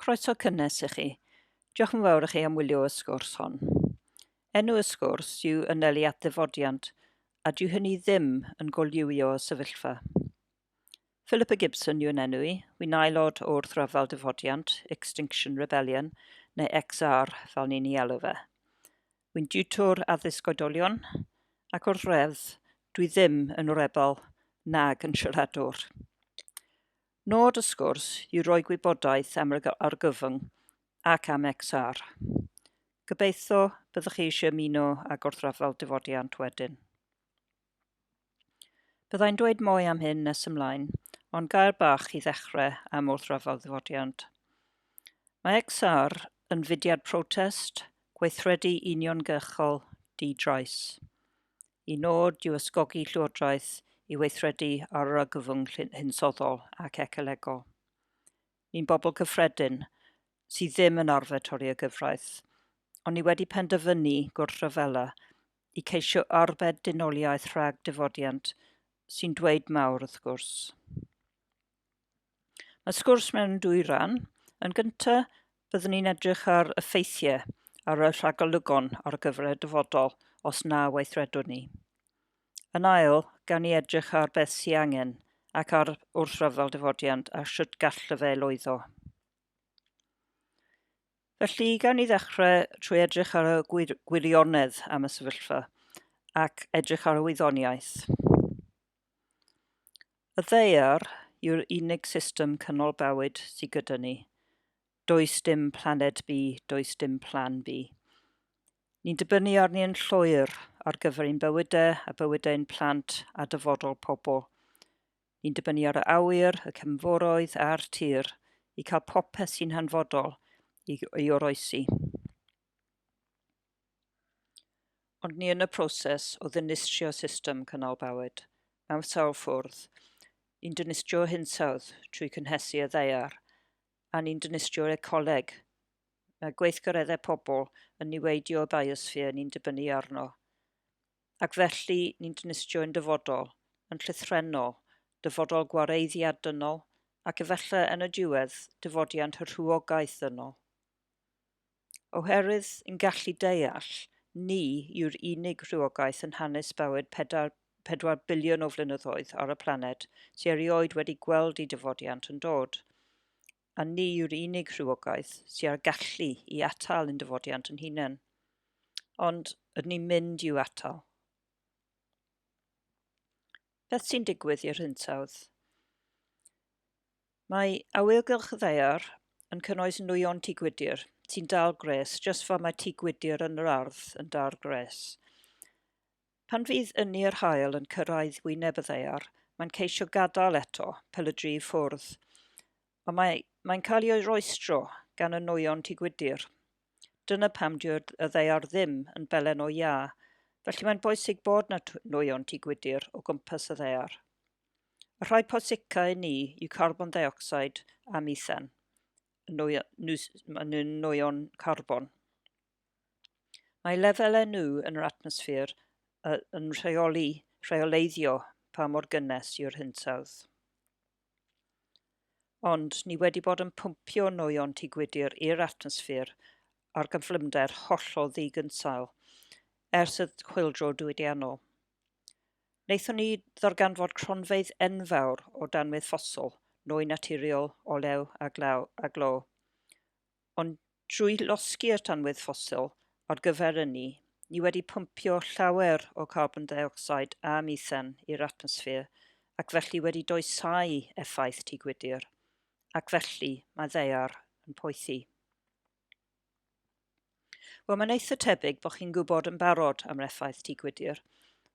Croeso cynnes i chi. Diolch yn fawr i chi am wylio y sgwrs hon. Enw y sgwrs yw Ynelu at Ddifodiant, a dyw hynny ddim yn golliwio y sefyllfa. Philippa Gibson yw'n enw i, wi'n aelod o Wrthryfel Difodiant, Extinction Rebellion, neu XR fel ni'n ei alw fe. Wi'n diwtor addysg oedolion, ac wrth redd, dwi ddim yn rebel nag yn siaradwr. Nod y sgwrs yw rhoi gwybodaeth am yr argyfwng ac am XR. Gobeithio byddwch chi eisiau ymuno â Gorthrafal Difodiant wedyn. Byddai'n dweud mwy am hyn nes ymlaen, ond gair bach i ddechrau am wrthrafal ddifodiant. Mae XR yn fudiad protest, gweithredu uniongyrchol, di-drais. Y nod yw ysgogi Llywodraeth i weithredu ar yr argyfwng hinsoddol ac ecolegol. Ni'n bobl cyffredin, sydd ddim yn arfer torri y gyfraith, ond ni wedi penderfynu gwrthryfela i ceisio arbed dynoliaeth rhag difodiant, sy'n dweud mawr wrth gwrs. Mae sgwrs mewn dwy ran. Yn gyntaf, byddwn ni'n edrych ar effeithiau ar y rhagolygon ar gyfer y dyfodol os na weithredwn ni. Yn ail, gawn ni edrych ar beth sy'n angen ac ar wrthryfel dyfodiant a sut gall y fe lwyddo. Felly, gawn ni ddechrau trwy edrych ar y gwir gwirionedd am y sefyllfa ac edrych ar y wyddoniaeth. Y ddaear yw'r unig system canolbawyd sy gyda ni. Does dim planed B, does dim plan B. Ni'n dibynnu arni yn llwyr ar gyfer ein bywydau a bywydau ein plant a dyfodol pobl. Ni'n dibynnu ar y awyr, y cefnforoedd a'r tir i cael popeth sy'n hanfodol i, i oroesi. Ond ni yn y proses o ddinistrio system cynnal bywyd, mewn sawl ffwrdd, ni'n dinistrio hinsawdd trwy cynhesu y ddaear, a ni'n dinistrio'r ecoleg, mae gweithgareddau pobl yn niweidio y biosphere ni'n dibynnu arno, ac felly ni'n dinistrio ein dyfodol, yn llythrennol, dyfodol gwareiddiad dynol, ac efallai yn y diwedd, dyfodiant y rhywogaeth ddynol. Oherwydd yn gallu deall, ni yw'r unig rhywogaeth yn hanes bywyd pedair, pedwar biliwn o flynyddoedd ar y planed sy erioed wedi gweld ei dyfodiant yn dod. A ni yw'r unig rhywogaeth sy â'r gallu i atal yn dyfodiant yn hunain. Ond, ydyn ni'n mynd i'w atal? Beth sy'n digwydd i'r hinsawdd? Mae awyrgylch y ddaear yn cynnwys nwyon tŷ gwydr sy'n dal gwres, jyst fel mae tŷ gwydr yn yr ardd yn dal gwres. Pan fydd ynni yr hael yn cyrraedd wyneb y ddaear, mae'n ceisio gadael eto, pel y dri ffwrdd. Ond mae, mae'n cael ei oeroestro gan y nwyon Tŷ Gwydir. Dyna pam dyw'r y ddaear ddim yn belen o iâ, felly mae'n bwysig bod na nwyon Tŷ Gwydir o gwmpas y ddaear. Y rhai posicau i ni yw carbon deuocsid a mithan, y nwyon, nwyon carbon. Mae lefelau nhw yn yr atmosffer yn rheoli, rheoleiddio pa mor gynnes yw'r hinsawdd. Ond ni wedi bod yn pwmpio nwyon Tŷ Gwydir i'r atmosffer ar gyflymder hollol ddigynsail ers y chwyldro diwydiannol. Wnaethon ni ddarganfod cronfeydd enfawr o danwydd ffosl, nwy naturiol, olew a glaw a glo. Ond drwy losgi'r tanwydd ffosil ar gyfer ynni, ni wedi pwmpio llawer o carbon deuocsid a mithen i'r atmosffer ac felly wedi doesau effaith tŷ gwydr, ac felly mae ddaear yn poethi. Wel, mae'n eitha tebyg bod chi'n gwybod yn barod am yr effaith tŷ gwydr,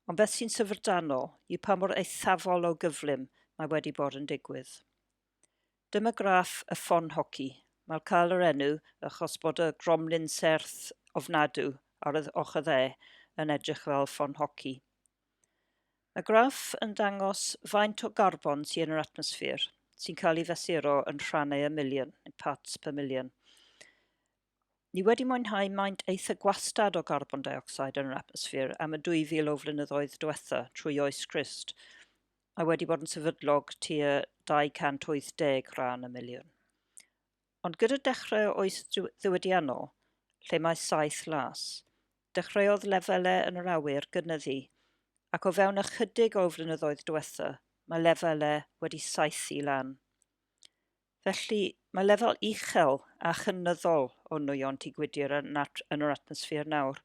ond beth sy'n syfrdanol yw pa mor eithafol o gyflym mae wedi bod yn digwydd. Dyma graff y ffon hoci. Mae'r cael yr enw achos bod y gromlin serth ofnadw ar y ochr dde yn edrych fel ffon hoci. Mae graff yn dangos faint o garbon sy'n yn yr atmosffer, sy'n cael ei fesuro yn rhannau y miliwn, yn parts per million. Ni wedi mwynhau maint eitha gwastad o garbon dioxide yn yr atmosffer am y 2,000 o flynyddoedd diwetha trwy oes Christ, mae wedi bod yn sefydlog tua 280 rhan y miliwn. Ond gyda dechrau oes ddiwydiannol, lle mae saith las, dechreuodd lefelau yn yr awyr gynyddu, ac o fewn ychydig o flynyddoedd diwetha, mae lefelau wedi saethu lan. Felly, mae lefel uchel a chynyddol o nwyon tu gwydir yn yr atmosffer nawr,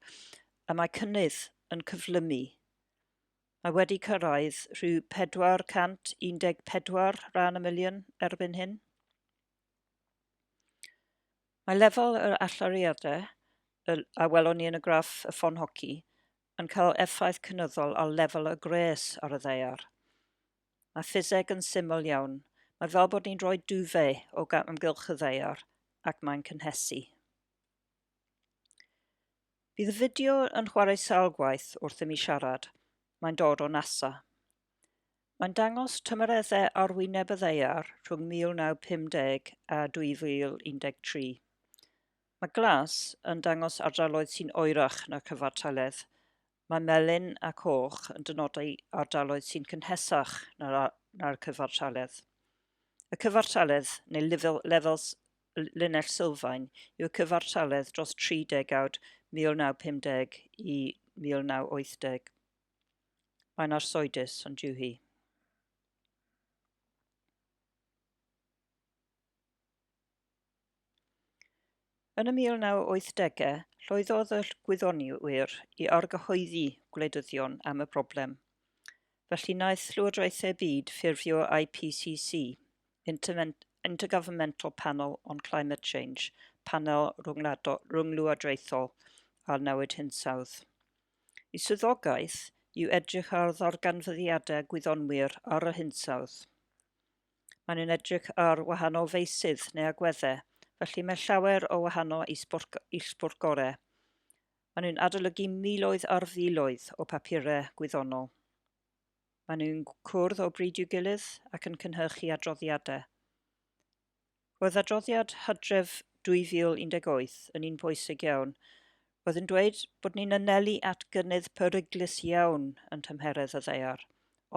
y mae cynnydd yn cyflymu. Mae wedi cyrraedd rhyw 414 rhan y miliwn erbyn hyn. Mae lefel yr allyriadau a welon ni yn y graff y ffon hoci yn cael effaith cynyddol ar lefel y gwres ar y ddaear. Mae ffiseg yn syml iawn. Mae fel bod ni'n rhoi duvet o amgylch y ddaear ac mae'n cynhesu. Bydd y fideo yn chwarae sawl gwaith wrth i mi siarad. Mae'n dod o NASA. Mae'n dangos tymereddau arwyneb y ddaear rhwng 1950 a 2013. Mae glas yn dangos ardaloedd sy'n oerach na chyfartaledd, Mae melyn a coch yn dynodi ardaloedd sy'n cynhesach na'r, na cyfartaledd. Y cyfartaledd, neu lefel, lefel linell sylfaen, yw cyfartaledd dros 30 degawd 1950 i 1980. Mae'n arsoedus, ond yw hi. Yn y 1980au, llwyddodd y gwyddonwyr i argyhoeddi gwleidyddion am y broblem. Felly naeth llywodraethau byd ffurfio IPCC, Intergovernmental Panel on Climate Change, Panel Rhynglywodraethol ar Newid Hinsawdd. Y swyddogaeth yw edrych ar ddarganfyddiadau gwyddonwyr ar yr hinsawdd. Maen nhw'n edrych ar wahanol feysydd neu agweddau, felly mae llawer o wahanol isbwrgorau. Maen nhw'n adolygu miloedd ar filoedd o papurau gwyddonol. Maen nhw'n cwrdd o bryd i'w gilydd ac yn cynhyrchu adroddiadau. Roedd adroddiad Hydref 2018 yn un pwysig iawn. Roedd yn dweud bod ni'n anelu at gynnydd peryglus iawn yn tymheredd y ddaear,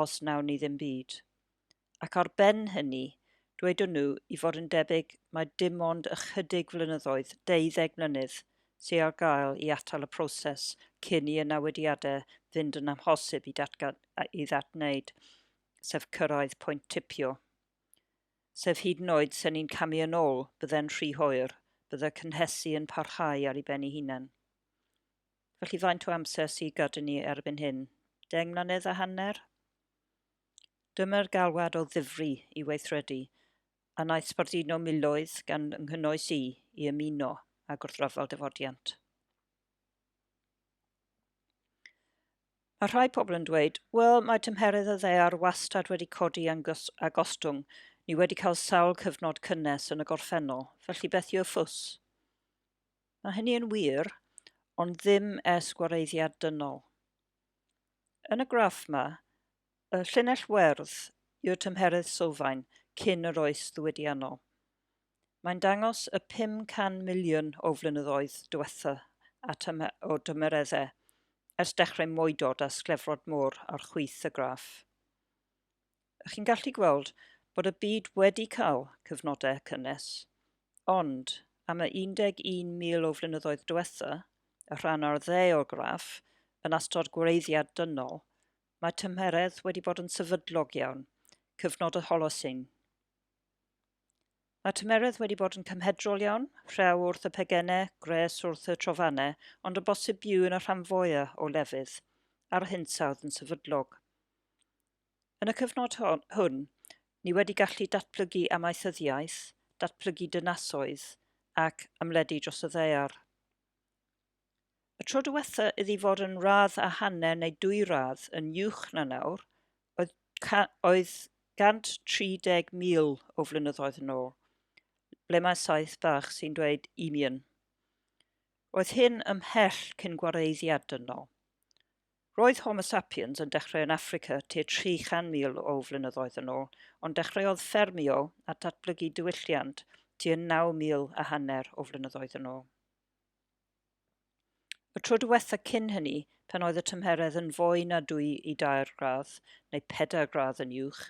os nawn ni ddim byd. ac ar ben hynny, dwedwn nhw i fod yn debyg mae dim ond ychydig flynyddoedd, deuddeg mlynedd, sy ar gael i atal y proses cyn i y newediadau fynd yn amhosib i datgan a'i ddadwneud, sef cyrraedd pwynt tipio. Sef hyd yn oed se ni'n camu yn ôl, bydde'n rhy hoer, bydde cynhesu yn parhau ar ei ben ei hunan. Felly faint o amser sy' gada ni erbyn hyn? Deng mlynedd a hanner? Dyma'r galwad o ddifri i weithredu, a wnaeth sbarduno miloedd gan fy nghynnwys i, i ymuno â gwrthryfel defodiant. Mae rhai pobl yn dweud, wel, mae tymheredd y ddaear wastad wedi codi a gostwng, ni wedi cael sawl cyfnod cynnes yn y gorffennol, felly beth yw'r ffws? Mae hynny yn wir, ond ddim es gwareiddiad dynol. Yn y graff 'ma, y llinell werdd yw'r tymheredd sylfaen cyn yr oes ddiwydiannol. Mae'n dangos y 500 miliwn o flynyddoedd diwetha o dymereddau ers dechrau moedod a sglefrod môr ar chwith y graff. a chi'n gallu gweld bod y byd wedi cael cyfnodau cynnes. Ond, am y 11,000 o flynyddoedd diwetha, y rhan o'r dde o'r graff, yn astod gwreiddiad dynol, mae tymheredd wedi bod yn sefydlog iawn, cyfnod y Holocene. Mae tymheredd wedi bod yn cymhedrol iawn, rhew wrth y pegennau, gwres wrth y trofannau, ond y bosib byw yn y rhan fwyaf o lefydd, a'r hinsawdd yn sefydlog. Yn y cyfnod hwn, ni wedi gallu datblygu amaethyddiaeth, datblygu dynasoedd ac ymledu dros y ddaear. Y tro diwetha iddi fod yn radd a hanner neu dwy radd yn uwch na nawr oedd, oedd 130,000 o flynyddoedd yn ôl, ble mae saith bach sy'n dweud imian. Oedd hyn ymhell cyn gwareiddiad dynol. Roedd Homo sapiens yn dechrau yn Affrica tua 300,000 o flynyddoedd yn ôl, ond dechreuodd ffermio a datblygu diwylliant tua 9,000 a hanner o flynyddoedd yn ôl. Y tro diwetha cyn hynny, pan oedd y tymheredd yn fwy na dwy i dair gradd, neu pedair gradd yn uwch,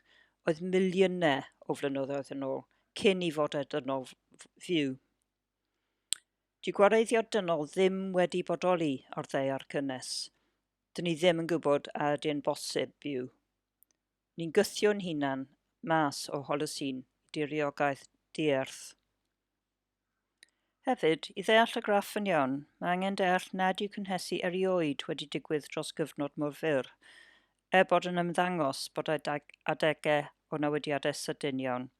oedd miliynau o flynyddoedd yn ôl, cyn i fodau dynol fyw. Dyw gwareiddio dynol ddim wedi bodoli o'r ddaear cynnes. Dyn ni ddim yn gwybod a ydy'n bosib byw. Ni'n gythio'n hunan mas o Holocene i diriogaeth dierth. Hefyd, i ddeall y graff yn iawn, mae angen deall nad yw cynhesu erioed wedi digwydd dros gyfnod mor fyr, er bod yn ymddangos bod adegau o newidiadau sydyn iawn.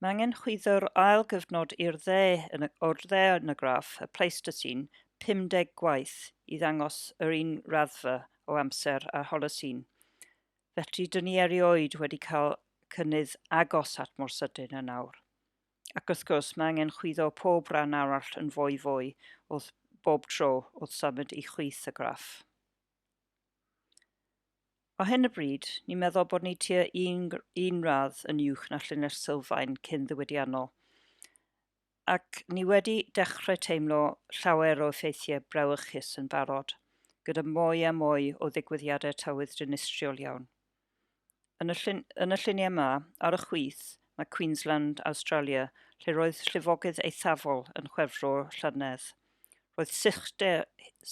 Mae angen chwyddo'r ail gyfnod i'r dde yn y, o'r dde yn y graff, y Pleistocene, 50 gwaith, i ddangos yr un raddfa o amser â'r Holocene. Fedri dynnu erioed wedi cael cynnydd agos at mor sydyn yn awr. Ac wrth gwrs, mae angen chwyddo pob rhan arall yn fwy fwy wrth bob tro wrth symud i chwith y graff. Ar hyn o bryd, ni'n meddwl bod ni tua un, un radd yn uwch na llinell sylfaen cyn ddiwydiannol. Ac ni wedi dechrau teimlo llawer o effeithiau brawychus yn barod, gyda mwy a mwy o ddigwyddiadau tywydd dinistriol iawn. Yn y, llun, yn y lluniau yma, ar y chwith, mae Queensland, Australia, lle roedd llifogydd eithafol yn chwefro llynedd. Roedd sychder,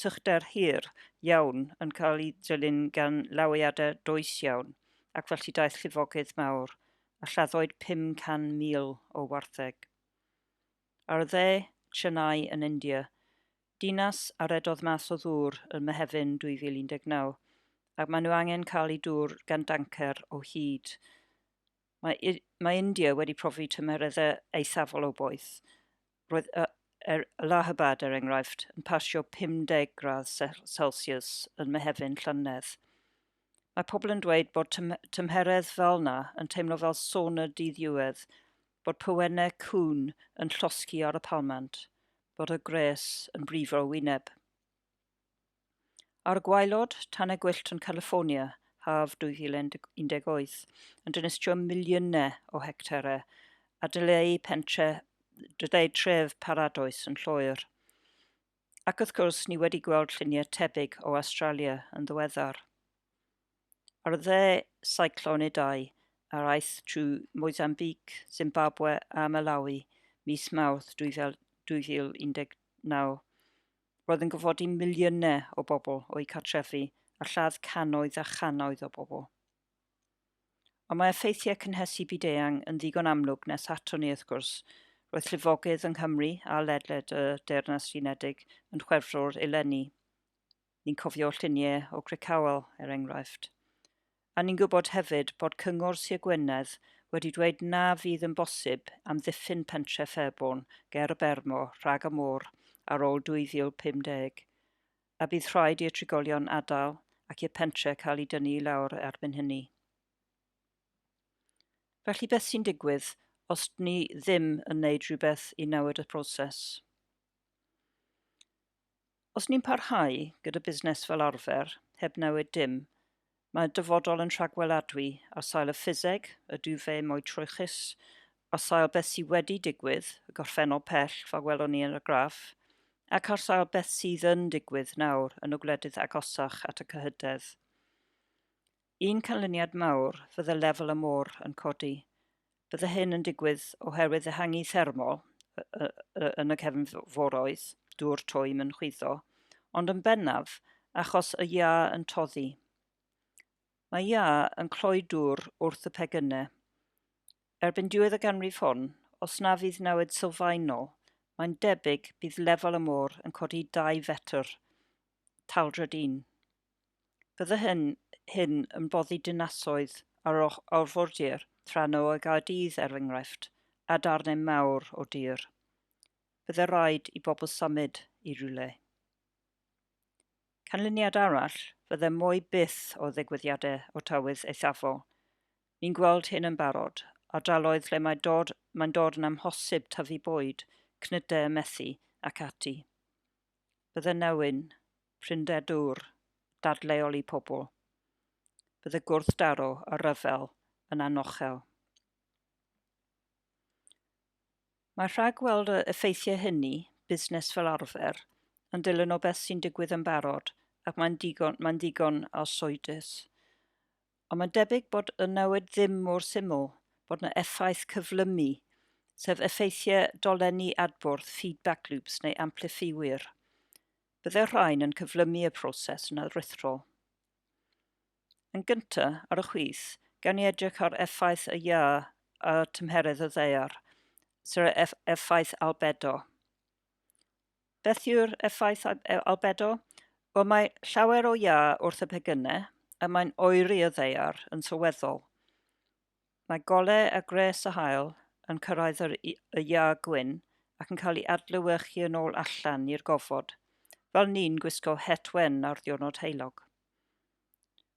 sychder hir iawn yn cael ei ddilyn gan lawiadau does iawn, ac felly daeth llifogydd mawr, a lladdwyd 500,000 o wartheg. Ar y dde, Chennai yn India, Dinas a redodd mas o ddŵr ym Mehefin 2019, ac maen nhw angen cael eu dŵr gan dancer o hyd. Mae, mae India wedi profi tymereddau eithafol o boeth. Roedd y, er, Allahabad, er enghraifft, yn pasio 50 gradd Celsius yn Mehefin llynedd. Mae pobl yn dweud bod tym, tymheredd fel na yn teimlo fel sauna dydd Iwedd, bod pywennau cŵn yn llosgi ar y palmant. fod y gwres yn brifo wyneb. Ar y gwaelod, Tanau Gwyllt yn California, haf 2018, yn dinistrio miliynau o hectarau a dyleu pentre, dyleu tref paradoes yn lloer. Ac wrth gwrs, ni wedi gweld lluniau tebyg o Australia yn ddiweddar. Ar dde Cyclone Idai, yr aeth trwy Mozambique, Zimbabwe a Malawi mis Mawrth 2019. Roedd yn gorfodi miliynau o bobl o'u cartrefi a lladd cannoedd a channoedd o bobl. Ond mae effeithiau cynhesu byd-eang yn ddigon amlwg nes ato ni wrth gwrs. Roedd llifogydd yng Nghymru a ledled y Deyrnas Unedig yn Chwefror eleni. Ni'n cofio lluniau o Crickhowell, er enghraifft. A ni'n gwybod hefyd bod Cyngor Sir Gwynedd wedi dweud na fydd yn bosib amddiffyn pentref Fairbourne ger y Bermo rhag y môr ar ôl 2050, a bydd rhaid i'r trigolion adael ac i'r pentre cael ei dynnu i lawr erbyn hynny. Felly beth sy'n digwydd os dni ddim yn wneud rhywbeth i newid y proses? Os ni'n parhau gyda busnes fel arfer, heb newid dim, mae'r dyfodol yn rhagweladwy ar sail y ffiseg, y duvet mwy troechus, ar sail beth sydd wedi digwydd, y gorffennol pell fel welwn ni yn y graff, ac ar sail beth sydd yn digwydd nawr yn y gwledydd agosach at y cyhydedd. Un canlyniad mawr fydde lefel y môr yn codi. Bydde hyn yn digwydd oherwydd ehangu thermol yn y cefn foroedd, dŵr twym yn chwyddo, ond yn bennaf achos y iâ yn toddi. Mae iâ yn cloi dŵr wrth y pecynnau. Erbyn diwedd y ganrif hon, os na fydd newid sylfaenol, mae'n debyg bydd lefel y môr yn codi 2 fetr. Taldred 1. Bydde hyn hyn yn boddi dinasoedd ar or orfordir Tranno a Gaerdydd, er enghraifft, a darnau mawr o dir. Bydde rhaid i bobl symud i rywle. Canlyniad arall fydde mwy byth o ddigwyddiadau o tywydd eithafol. Ni'n gweld hyn yn barod, ardaloedd lle mae dod, mae'n dod yn amhosib tyfu bwyd, cnydau a methu, ac ati. Bydde newyn prinder dŵr dadleuol i pobl, bydd y gwrthdaro a rhyfel yn anochel. Mae rhagweld y effeithiau hynny, busnes fel arfer, yn dilyn o beth sy'n digwydd yn barod ac mae'n digon, mae'n digon arswydus. Ond mae'n debyg bod y newid ddim mor syml bod yna effaith cyflymu, sef effeithiau dolenni adbwrdd, feedback loops neu amplifiwyr, Byddai'r rhain yn cyflymu y proses yn aruthrol. Yn gyntaf, ar y chwith, gawn ni edrych ar effaith y iâ a tymheredd y ddaear, sef y effaith albedo. Beth yw'r effaith e- albedo? Wel, mae llawer o iâ wrth y pegynnau, a mae'n oeri y ddaear yn sylweddol. Mae golau a gwres a haul yn cyrraedd yr y iâ gwyn ac yn cael ei adlewyrchu yn ôl allan i'r gofod, fel ni'n gwisgo het wen ar ddiwrnod heulog.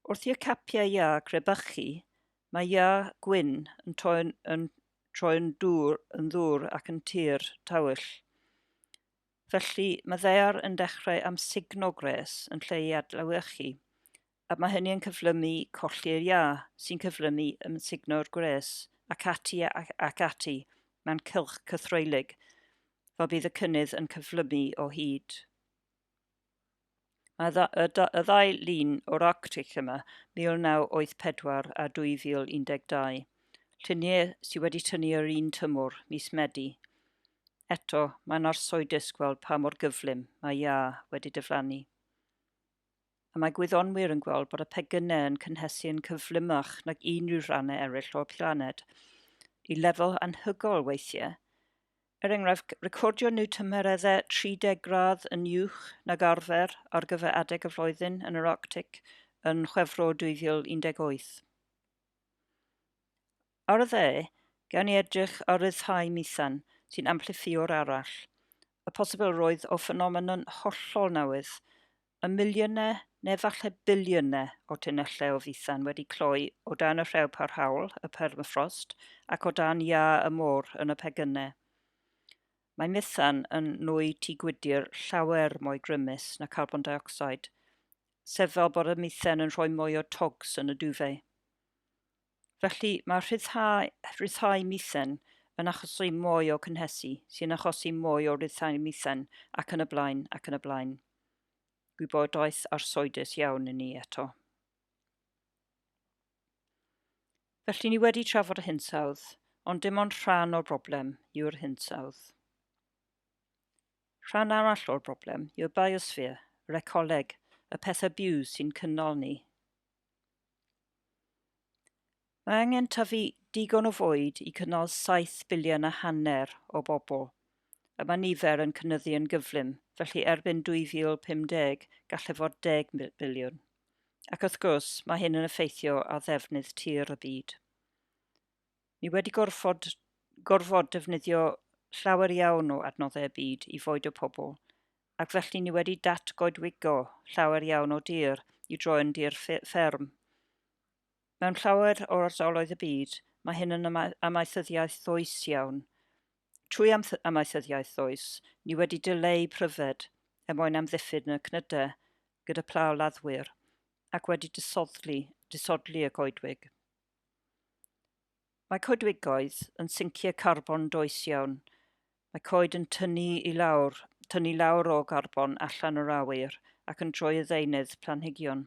Wrth i'r capiau iâ crebychu, mae iâ gwyn yn troi'n yn, troi'n dŵr, yn ddŵr ac yn tir tawyll. Felly, mae ddaear yn dechrau amsugno gwres yn lle ei adlewyrchu, a mae hynny yn cyflymu colli'r iâ, sy'n cyflymu ymysugno'r gwres, ac ati ac, ac ati, mae'n cylch cythroelig, fel bydd y cynnydd yn cyflymu o hyd. Mae y, y, y ddau lun o'r Arctic yma, 1984 a 2012, lluniau sydd wedi tynnu yr un tymor, mis Medi. Eto, mae'n arsoedus gweld pa mor gyflym mae iâ wedi diflannu. a mae gwyddonwyr yn gweld bod y pegynau yn cynhesu yn cyflymach nag unrhyw rhannau eraill o'r planed, i lefel anhygoel weithiau. Er enghraifft, recordio nhw tymereddau 30 gradd yn uwch nag arfer ar gyfer adeg y flwyddyn yn yr Arctic yn Chwefror 2018. Ar y dde, gawn ni edrych ar ryddhau methan, sy'n amplifïwr arall, y posibilrwydd o ffenomenon hollol newydd, y miliynau neu falle biliynau o tunnellau o fethan wedi cloi o dan y rhew parhaol, y permafrost, ac o dan iâ y môr yn y pegynau. Mae methan yn nwy tu gwydr llawer mwy grymus na carbon dioxide, sef fel bod y methan yn rhoi mwy o togs yn y duvet. Felly, mae rhyddhau, rhyddhau mithen yn achosi mwy o cynhesu, sy'n achosi mwy o ryddhau mithen, ac yn y blaen, ac yn y blaen. Gwybodaeth arsoedus iawn i ni eto. Felly ni wedi trafod y hinsawdd, ond dim ond rhan o'r broblem yw'r hinsawdd. Rhan arall o'r broblem yw'r biosphere, yr ecoleg, y pethau byw sy'n cynnal ni. Mae angen tyfu digon o fwyd i cynnal saith biliwn a hanner o bobl. Y mae nifer yn cynyddu yn gyflym, felly erbyn 2050 gallai fod deg biliwn. Ac wrth gwrs, mae hyn yn effeithio ar ddefnydd tir y byd. Ni wedi gorfod, gorfod defnyddio llawer iawn o adnoddau y byd i foedo pobl, ac felly ni wedi datgoedwigo llawer iawn o dir i droi yn dir fferm. Mewn llawer o ardaloedd y byd, mae hyn yn amaethyddiaeth ddoes iawn. Trwy amaethyddiaeth ddoes, ni wedi dileu pryfed er mwyn amddiffyn y cnydau gyda pla o laddwyr, ac wedi disodli, disodli y coedwig. Mae coedwigoedd yn sincio carbon does iawn. Mae coed yn tynnu i lawr, tynnu lawr o garbon allan o'r awyr ac yn troi y ddeunydd planhigion.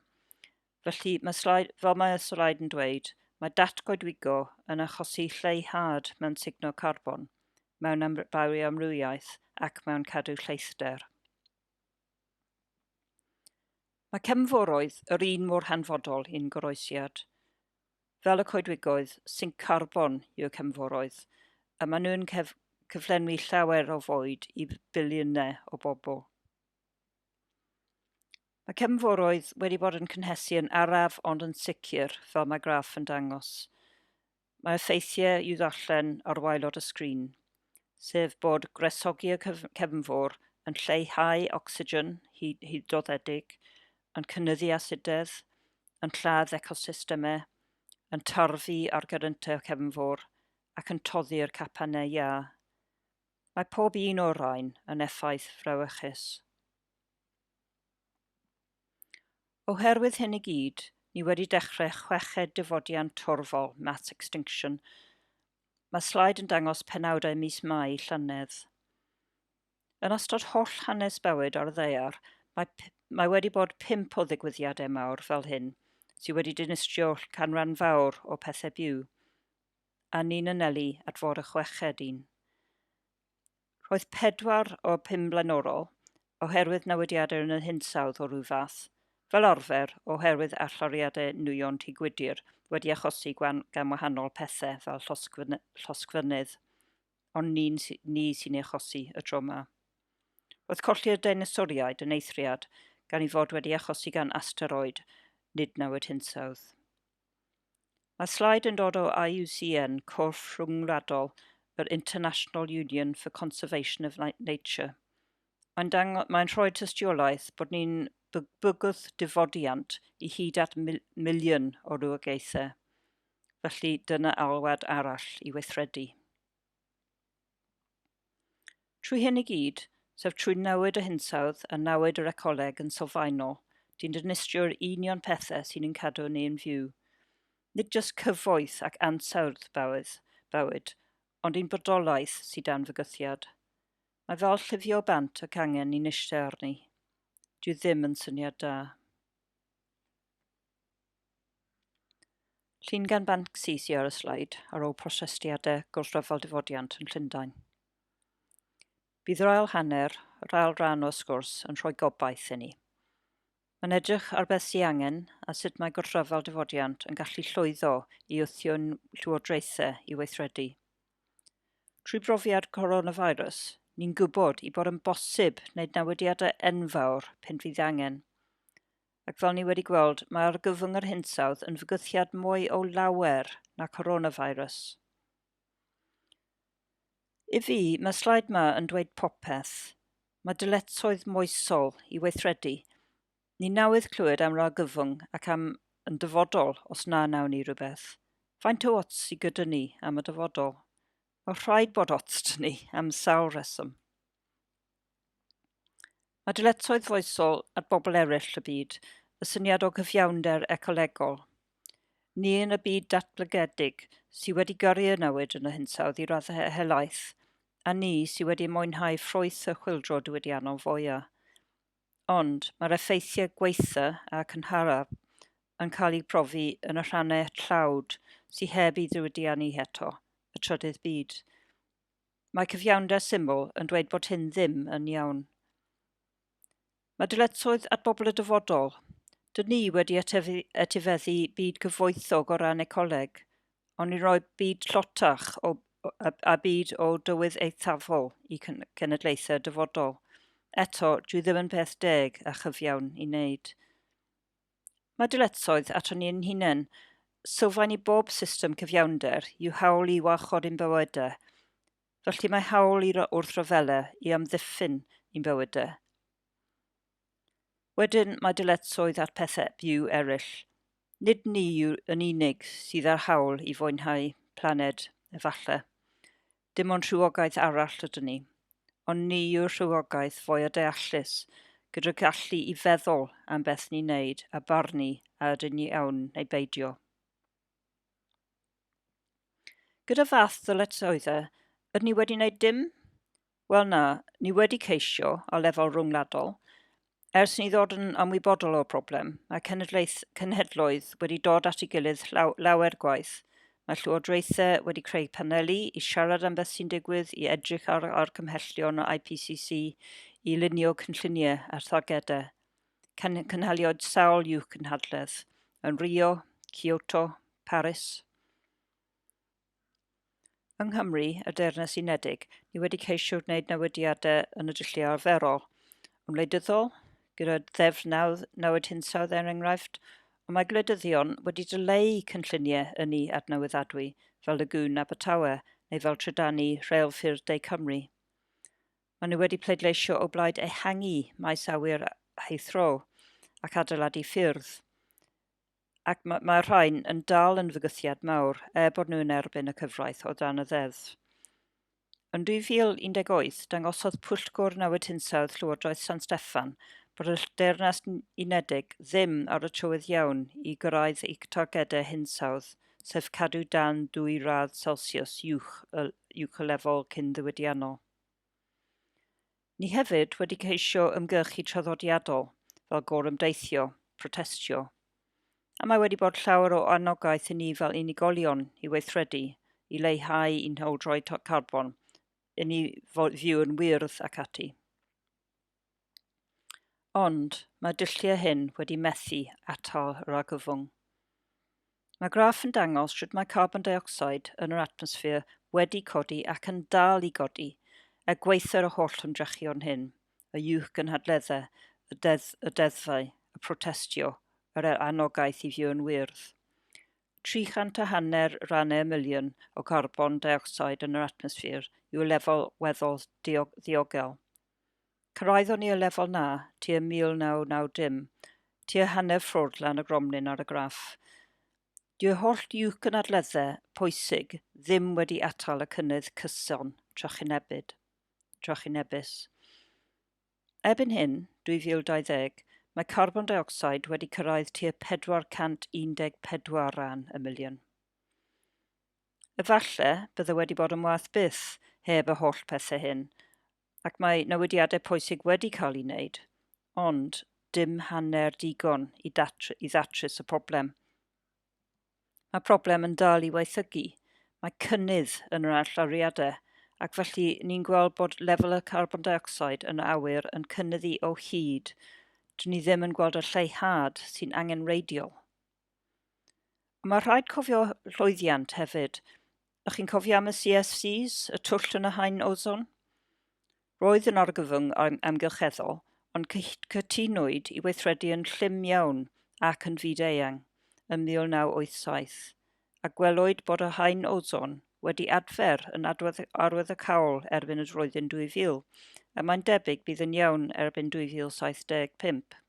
Felly, mae slaid, fel mae y slaid yn dweud, mae datgoedwigo yn achosi lleihad mewn signo carbon, mewn am, bioamrywiaeth ac mewn cadw lleithder. Mae cefnforoedd yr un mor hanfodol i'n goroesiad. Fel y coedwigoedd, sinc carbon yw'r cefnforoedd, a maen nhw'n cef cyflenwi llawer o fwyd i filiynau o bobl. Mae cefnforoedd wedi bod yn cynhesu yn araf ond yn sicr, fel mae graff yn dangos. Mae effeithiau i'w ddarllen ar waelod y sgrin, sef bod gwresogi y cefnfor yn lleihau ocsigen hydroddedig, yn cynyddu asidedd, yn lladd ecosystemau, yn tarfu ar gyryntau y cefnfor ac yn toddi'r capannau iâ. Mae pob un o'r rhain yn effaith frawychus. Oherwydd hyn i gyd, ni wedi dechrau chweched dyfodiant torfol, mass extinction. Mae slaid yn dangos penawdau mis Mai llynedd. Yn ystod holl hanes bywyd ar y ddaear, mae, mae wedi bod pimp o ddigwyddiadau mawr fel hyn, sydd wedi dinistrio canran fawr o pethau byw, a ni'n anelu at fod y chweched un. Roedd pedwar o'r pum blaenorol oherwydd newidiadau yn y hinsawdd o ryw fath, fel arfer oherwydd allyriadau nwyon Tŷ Gwydir wedi achosi gan wahanol pethau fel llosgfynydd, ond nid ni sy'n ei achosi y tro yma. Roedd colli'r deinosoriaid yn eithriad gan ei fod wedi achosi gan asteroid, nid newid hinsawdd. Mae slaid yn dod o IUCN, Corff Rhyngwladol yr International Union for Conservation of Nature. Mae'n, dango, mae'n rhoi tystiolaeth bod ni'n bygwth difodiant i hyd at mil miliwn o rywogaethau. Felly dyna alwad arall i weithredu. Trwy hyn i gyd, sef trwy newid y hinsawdd a newid yr ecoleg yn sylfaenol, dyn dinistrio'r union pethau sy'n ein cadw ni yn fyw. Nid jyst cyfoeth ac ansawdd bywyd, bywyd, ond ein bodolaeth sydd dan fygythiad. Mae fel llifio bant y cangen ni'n eistedd arni. Dyw ddim yn syniad da. Llun gan Banksy sy ar y sleid ar ôl protestiadau gwrthryfel difodiant yn Llundain. Bydd yr ail hanner, yr ail ran o'r sgwrs, yn rhoi gobaith i ni. Mae'n edrych ar beth sy'n angen a sut mae gwrthryfel difodiant yn gallu llwyddo i wthio'n llywodraethau i weithredu. Trwy brofiad coronavirus, ni'n gwybod i bod yn bosib wneud newidiadau enfawr pan fydd angen. Ac fel ni wedi gweld, mae argyfwng yr hinsawdd yn fygythiad mwy o lawer na coronavirus. I fi, mae slaid ma yn dweud popeth. Mae dyletswydd moesol i weithredu. Ni nawydd clywed am yr argyfwng ac am yn dyfodol os na nawn ni rhywbeth. Faint o ots sy gyda ni am y dyfodol? Mae rhaid bod ots da ni am sawl reswm. a dyletswydd foesol at bobl eraill y byd, y syniad o gyfiawnder ecolegol. Ni yn y byd datblygedig sydd wedi gyrru y newid yn y hinsawdd i raddau helaeth, a ni sydd wedi mwynhau ffrwyth y chwyldro diwydiannol fwyaf. Ond mae'r effeithiau gwaetha a cynharaf yn cael eu profi yn y rhannau tlawd sydd heb eu diwydiannu eto, y trydydd byd. Mae cyfiawnder syml yn dweud bod hyn ddim yn iawn. Mae dyletswydd at bobl y dyfodol. Dyn ni wedi etifeddu byd cyfoethog o ran ecoleg, ond ni'n rhoi byd llotach o, a, a byd o dywydd eithafol i cenedlaethau dyfodol. Eto, dwi ddim yn peth deg a chyfiawn i wneud. Mae dyletswydd aton ni ein hunain, sylfaen i bob system cyfiawnder, yw hawl i warchod ein bywydau. Felly mae hawl i wrth ryfela i amddiffyn ein bywydau. Wedyn mae dyletswydd ar pethau byw eraill. Nid ni yw yn unig sydd â'r hawl i fwynhau planed, efallai. Dim ond rhywogaeth arall ydyn ni, ond ni yw'r rhywogaeth fwya deallus, gyda'r gallu i feddwl am beth ni'n neud a barnu a ydyn ni iawn neu beidio. Gyda fath ddyletswydde, ydyn ni wedi neud dim? Wel na, ni wedi ceisio, ar lefel rwngwladol, Ers ni ddod yn ymwybodol o'r broblem, mae cenedlaeth, cenhedloedd wedi dod at ei gilydd llaw, lawer gwaith. Mae llywodraethau wedi creu paneli i siarad am beth sy'n digwydd, i edrych ar, ar cymhellion o IPCC, i lunio cynlluniau a thargedau. Cyn, cynhaliodd sawl i'w cynhadledd, yn Rio, Kyoto, Paris. Yng Nghymru, y Deyrnas Unedig, ni wedi ceisio gwneud newidiadau yn y dulliau arferol. Yn wleidyddol, gyda Ddeddf 99 Hinsawdd er enghraifft, ond mae gwleidyddion wedi dyleu cynlluniau ynni adnewyddadwy fel Lagoon Abertawe neu fel trydannu rheilffyrdd De Cymru. Maen nhw wedi pleidleisio o blaid ehangu maes awyr Heathrow ac adeiladu ffyrdd. ac mae, mae rhain yn dal yn fygythiad mawr, er bod nhw yn erbyn y cyfraith o dan y ddeddf. Yn 2018, dangosodd Pwyllgor Newid Hinsawdd Llywodraeth San Steffan bod y Deyrnas Unedig ddim ar y trywydd iawn i gyrraedd ei targedau hinsawdd, sef cadw dan ddwy radd Celsius uwch y, uwch y lefel cyn-ddiwydiannol. Ni hefyd wedi ceisio ymgyrchu traddodiadol fel gorymdeithio, protestio. A mae wedi bod llawer o anogaeth i ni fel unigolion i weithredu, i leihau i'n hawldroi carbon, i ni fyw yn wyrdd ac ati. Ond, mae'r dulliau hyn wedi methu atal yr argyfwng. Mae graff yn dangos sut mae carbon deuocsid yn yr atmosffer wedi codi ac yn dal i godi er gwaetha'r y holl ymdrechion hyn, y uwchgynhadleddau, y deddf, y deddfau, y protestio, yr er anogaeth i fio'n wyrdd. 300 a hanner rannau y miliwn o garbon deuocsid yn yr atmosffer yw'r lefel weddol ddiogel. Cyrhaeddon ni y lefel 'na tua 1990, tua hanner ffwrdd lan y gromlin ar y graff. Dyw'r holl jwc yn adledde pwysig ddim wedi atal y cynnydd cyson trychinebyd, trychinebus. Erbyn hyn, 2020, mae carbon deuocsid wedi cyrraedd tua 414 ran y miliwn. Efallai bydde wedi bod yn waeth byth heb y holl pethau hyn, ac mae newidiadau pwysig wedi cael eu wneud, ond dim hanner digon i ddatrys y problem. Mae problem yn dal i waethygu, mae cynnydd yn yr allyriadau, ac felly ni'n gweld bod lefel y carbon dioxide yn y awyr yn cynnyddu o hyd, dyn ni ddim yn gweld y lleihad sy'n angenreidiol. Mae rhaid cofio llwyddiant hefyd. Ych chi'n cofio am y CFCs, y twll yn y haen ozon? Roedd yn argyfwng amgylcheddol, ond cytunwyd i weithredu yn llym iawn ac yn fyd-eang ym 1987, a gwelwyd bod y haen ozon wedi adfer yn arwyddocaol erbyn y flwyddyn 2000, a mae'n debyg bydd yn iawn erbyn 2075.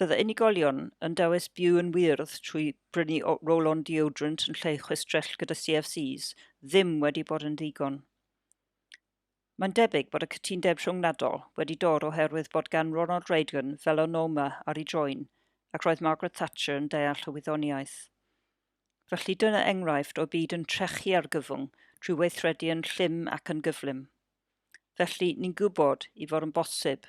Fydd y unigolion yn dewis byw yn wyrdd trwy brynu roll-on deodorant yn lle chwistrell gyda CFCs ddim wedi bod yn ddigon. Mae'n debyg bod y cytundeb rhyngwladol wedi dod oherwydd bod gan Ronald Reagan felonoma ar ei droen ac roedd Margaret Thatcher yn deall y wyddoniaeth. Felly dyna enghraifft o byd yn trechu argyfwng trwy weithredu yn llym ac yn gyflym. Felly, ni'n gwybod i fod yn bosib.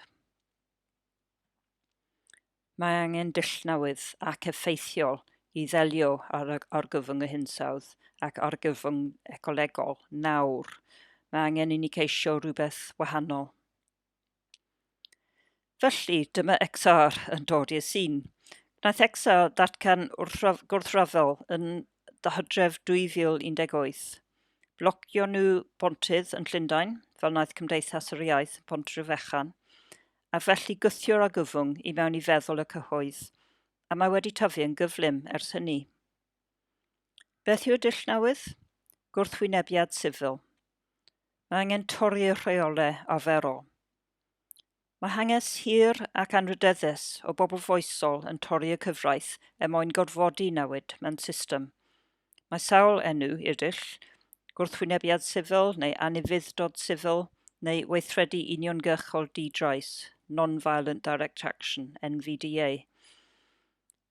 Mae angen dull newydd ac effeithiol i ddelio â'r argyfwng hinsawdd ac argyfwng ecolegol nawr. Mae angen i ni ceisio rhywbeth wahanol. Felly, dyma XR yn dod i'r sîn. Gwnaeth XR ddatgan gwrthryfel yn Hydref 2018. Blocio nhw bontydd yn Llundain, fel wnaeth Cymdeithas yr Iaith yn Pontrhyfechan, a felly gwthiwr argyfwng i mewn i feddwl y cyhoedd, a mae wedi tyfu yn gyflym ers hynny. Beth yw'r dull newydd? Gwrthwynebiad sifil. Mae angen torri'r rheolau arferol. Mae hanges hir ac anrhydeddus o bobl foesol yn torri y cyfraith er mwyn gorfodi newid mewn system. Mae sawl enw i'r dull, gwrthwynebiad sifil neu anufudd-dod sifil, neu weithredu uniongyrchol di-drais, non-violent direct action, NVDA.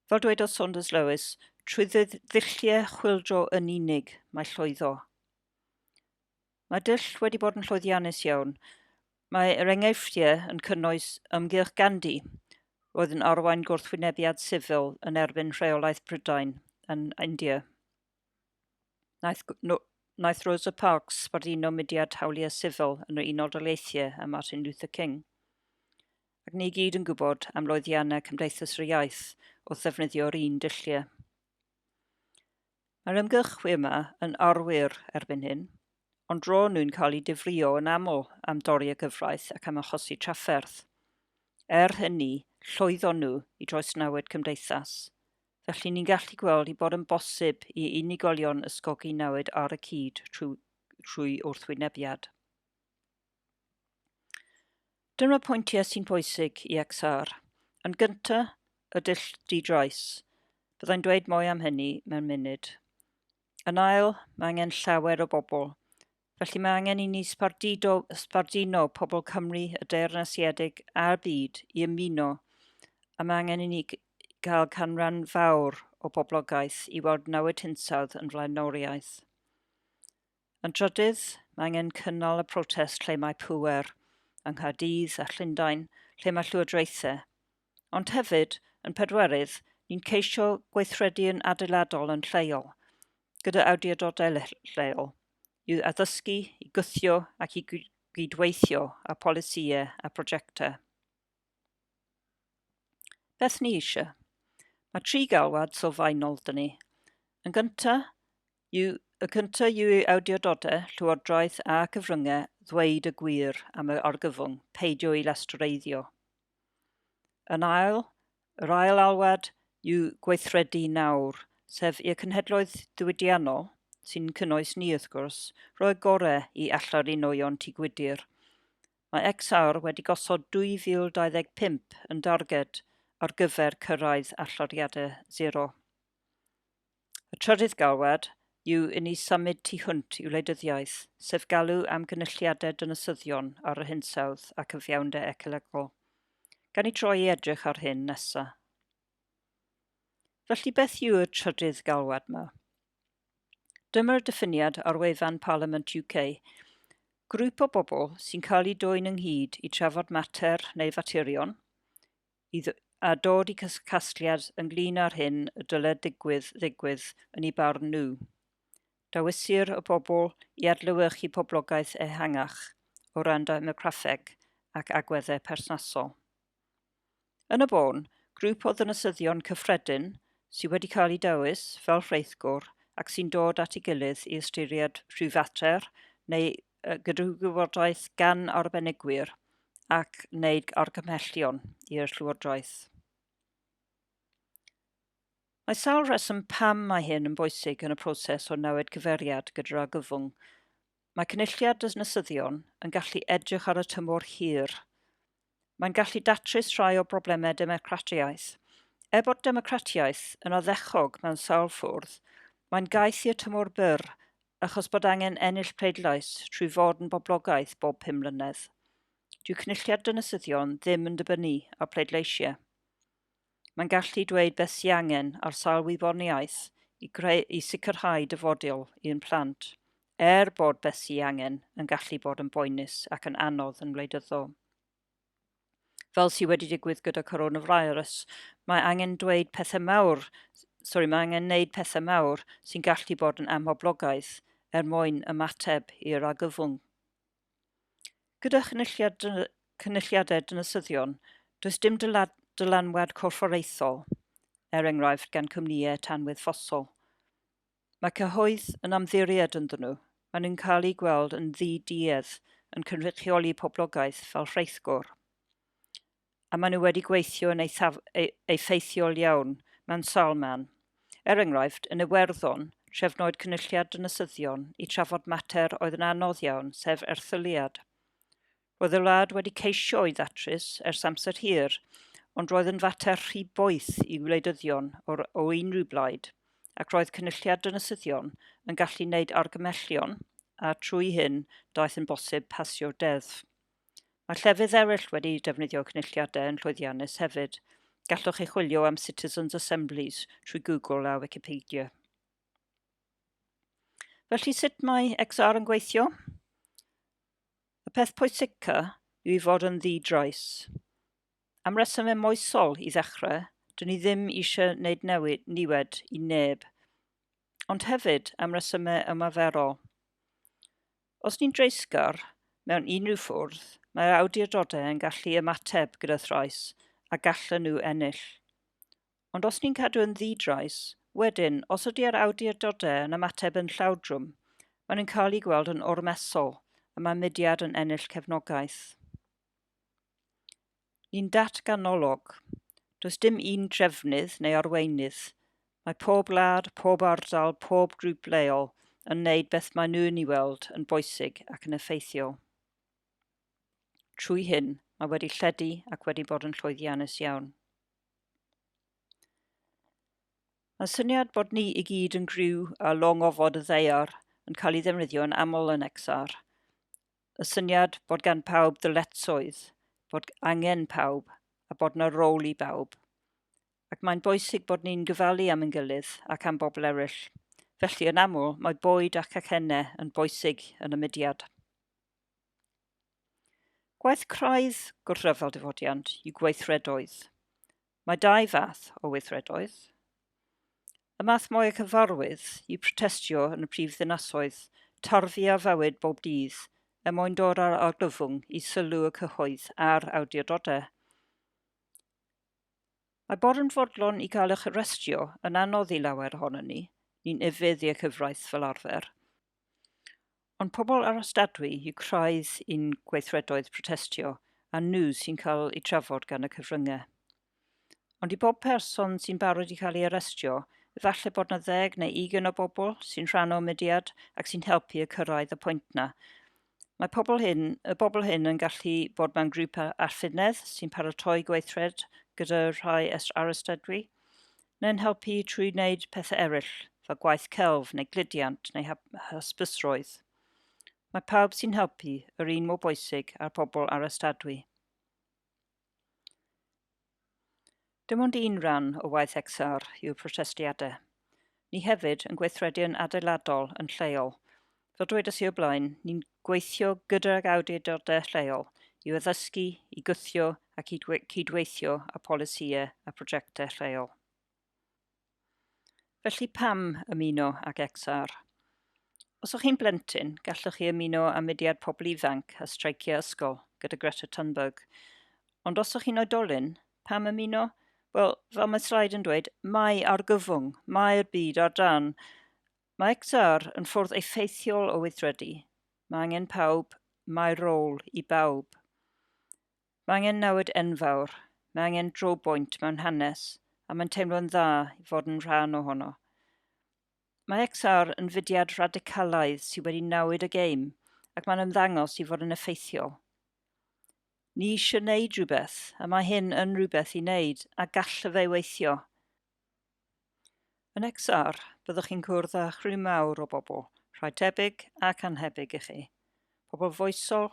Fel dwedodd Saunders Lewis, trwy ddulliau chwyldro yn unig mae llwyddo. Mae dull wedi bod yn llwyddiannus iawn. Mae yr enghreifftiau yn cynnwys ymgyrch Gandhi, roedd yn arwain gwrthwynebiad sifil yn erbyn rheolaeth Prydain yn India. Naeth, no, naeth Rosa Parks sbarduno mudiad hawliau sifil yn yr Unol Daleithiau a Martin Luther King. Ac ni gyd yn gwybod am loeddiannau Cymdeithas yr Iaith wrth ddefnyddio'r un dulliau. Mae'r ymgyrchwyr yma yn arwyr erbyn hyn, ond ro'n nhw'n cael eu difrïo yn aml am dorri y gyfraith ac am achosi trafferth. Er hynny, llwyddon nhw i droesnewid cymdeithas. Felly ni'n gallu gweld ei bod yn bosib i unigolion ysgogi newid ar y cyd trwy wrthwynebiad. Dyma pwyntiau sy'n bwysig i XR. Yn gynta, y dull di-drais. Byddai'n dweud mwy am hynny mewn munud. Yn ail, mae angen llawer o bobl. Felly mae angen i ni sbardudo, sbarduno pobl Cymru, y Deyrnasiedig a'r byd i ymuno. A mae angen i ni gael canran fawr o boblogaeth i weld nawyd hinsawdd yn flaenoriaeth. Yn drydydd, mae angen cynnal y protest lle mae pŵer, yng Nghaerdydd a Llundain, lle mae llywodraethau. Ond hefyd, yn pedwerydd, ni'n ceisio gweithredu yn adeiladol yn lleol, gyda awdurdodau lleol, i addysgu, i gwthio ac i gydweithio ar polisïau a prosiectau. Beth ni eisiau? Mae tri galwad sylfaenol dyn ni. Yn gynta, yw, y cynta yw i awdurdodau, llywodraeth a cyfryngau ddweud y gwir am y argyfwng, peidio i lastreiddio. Yn ail, yr ail alwad yw gweithredu nawr, sef i'r cynhedloedd diwydiannol, sy'n cynnwys ni wrth gwrs, roi gorau i allarinnioion tŷ gwydr, Mae X-Awr wedi gosod 2025 yn darged ar gyfer cyrraedd allyriadau sero. Y trydydd galwad yw i ni symud tu hwnt i wleidyddiaeth, sef galw am gynulliadau dinasyddion ar yr hinsawdd a cyfiawnder ecolegol. Gawn ni droi i edrych ar hyn nesa. Felly beth yw'r trydydd galwad 'ma? Dyma'r diffiniad ar wefan Parliament UK. Grŵp o bobl sy'n cael eu dwyn ynghyd i trafod mater neu faterion i a dod i casgliad ynglyn â'r hyn y dyled digwydd ddigwydd yn ei barn nhw. Dawisir y bobl i adlewyrchu poblogaeth ehangach o ran demograffeg ac agweddau perthnasol. Yn y bôn, grŵp o ddinasyddion cyffredin sydd wedi cael eu dewis fel rheithgor ac sy'n dod at ei gilydd i ystyried rhywfater neu gydrywgwybodaeth gan arbenigwyr ac wneud argymhellion i'r Llywodraeth. Mae sawl rheswm pam mae hyn yn bwysig yn y proses o newid cyfeiriad gyda'r argyfwng. Mae cynulliad dynasyddion yn gallu edrych ar y tymor hir, Mae'n gallu datrys rhai o broblemau democratiaeth. Er bod democratiaeth yn oddechog mewn sawl ffwrdd, mae'n gaeth i'r tymor byr achos bod angen ennill pleidlais trwy fod yn boblogaidd bob pum mlynedd. Dyw cynulliad dynasyddion ddim yn dibynnu ar pleidleisiau. Mae'n gallu dweud beth sy angen ar sail wyddoniaeth i greu i sicrhau dyfodiol i'n plant, er bod beth sy angen yn gallu bod yn boenus ac yn anodd yn wleidyddol. Fel sydd wedi digwydd gyda coronavirus, mae angen dweud pethau mawr, sori, mae angen wneud pethau mawr sy'n gallu bod yn amhoblogaidd er mwyn ymateb i'r argyfwng. Gyda chynulliadau dinasyddion, does dim dylanwad corfforaethol, er enghraifft, gan cwmnïau tanwydd ffosol. Mae cyhoedd yn amddiried ynddyn nhw, maen nhw'n cael eu gweld yn ddi-duedd yn cynrychioli poblogaeth fel rheithgor. a maen nhw wedi gweithio yn eithaf, e, effeithiol iawn mewn sawl man. Er enghraifft, yn Iwerddon, trefnwyd cynulliad dynasyddion i trafod mater oedd yn anodd iawn, sef erthyliad. Roedd y wlad wedi ceisio ei ddatrys ers amser hir, ond roedd yn fater rhy boeth i wleidyddion o'r, o unrhyw blaid, ac roedd cynulliad dynasyddion yn gallu wneud argymellion, a trwy hyn daeth yn bosib pasio deddf. Mae llefydd eraill wedi defnyddio cynulliadau yn llwyddiannus hefyd. Gallwch chi chwilio am Citizens Assemblies trwy Google a Wikipedia. Felly sut mae XR yn gweithio? Y peth pwysica yw i fod yn ddi-drais. Am resymau moesol i ddechrau, dyn ni ddim eisiau wneud newid niwed i neb, ond hefyd am resymau ymaferol. Os ni'n dreisgar mewn unrhyw ffwrdd, mae'r awdurdodau yn gallu ymateb gyda thrais a gallen nhw ennill. Ond os ni'n cadw yn ddi-drais, wedyn, os ydy'r awdurdodau yn ymateb yn llawdrwm, maen nhw'n cael eu gweld yn ormesol a mae mudiad yn ennill cefnogaeth. Yn datganolog, does dim un trefnydd neu arweinydd. Mae pob gwlad, pob ardal, pob grŵp leol yn wneud beth maen nhw'n ei weld yn bwysig ac yn effeithiol. Trwy hyn, mae wedi lledu ac wedi bod yn llwyddiannus iawn. Mae syniad bod ni i gyd yn griw a long ofod y ddaear yn cael ei ddefnyddio yn aml yn XR. y syniad bod gan pawb ddyletswydd, bod angen pawb a bod na rôl i bawb. Ac mae'n bwysig bod ni'n gyfalu am yn gilydd ac am bobl eraill. Felly, yn aml, mae bwyd ac acennau yn bwysig yn y mudiad. Gwaith craidd gwrthryfel difodiant yw gweithredoedd. Mae dau fath o weithredoedd. Y math mwy a cyfarwydd yw protestio yn y prif ddinasoedd, tarfu a fywyd bob dydd er mwyn dod â'r argyfwng i sylw y cyhoedd a'r awdurdodau. Mae bod yn fodlon i gael eich arestio yn anodd i lawer ohonon ni, ni'n ufudd i'r cyfraith fel arfer, Ond pobl arostadwy yw craidd i'n gweithredoedd protestio a nhw sy'n cael eu trafod gan y cyfryngau. Ond i bob person sy'n barod i cael ei arestio, efallai bod na ddeg neu ugen o bobl sy'n rhan o mudiad ac sy'n helpu y cyrraedd y pwynt na. Mae pobl hyn, y bobl hyn yn gallu bod mewn grŵp arffynedd sy'n paratoi gweithred gyda rhai arostadwy, neu'n helpu trwy wneud pethau eraill, fel gwaith celf neu gludiant neu hysbysrwydd. Mae pawb sy'n helpu yr un mor bwysig â'r pobl arestadwy. Dim ond un rhan o waith XR yw'r protestiadau. Ni hefyd yn gweithredu yn adeiladol yn lleol, Fel dwedes i o'r blaen, ni'n gweithio gydag awdurdodau lleol i'w addysgu, i gwthio ac i cydweithio â pholisïau a prosiectau lleol. Felly pam ymuno ag XR? Os o'ch chi'n blentyn, gallwch chi ymuno â mudiad pobl ifanc a streiciau ysgol gyda Greta Thunberg. Ond os o'ch chi'n oedolyn, pam ymuno? Wel, fel mae slaid yn dweud, mae argyfwng, mae'r byd ar dan Mae Ektar yn ffordd effeithiol o weithredu. Mae angen pawb, mae rôl i bawb. Mae angen newid enfawr, mae angen drobwynt mewn hanes a mae'n teimlo'n dda i fod yn rhan ohono. Mae Ektar yn fudiad radicalaidd sydd wedi newid y gêm ac mae'n ymddangos i fod yn effeithiol. Ni eisiau wneud rhywbeth, a mae hyn yn rhywbeth i wneud a gallaf ei weithio. Yn XR, byddwch chi'n cwrdd â chriw mawr o bobl, rhai tebyg ac annhebyg i chi. Pobl foesol,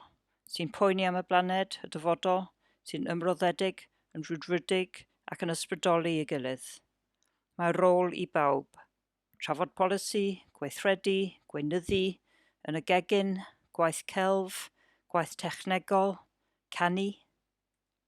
sy'n poeni am y blaned, y dyfodol, sy'n ymroddedig, yn rhwydwrydig ac yn ysbrydoli ei gilydd. Mae rôl i bawb. Trafod polisi, gweithredu, gweinyddu, yn y gegin, gwaith celf, gwaith technegol, canu,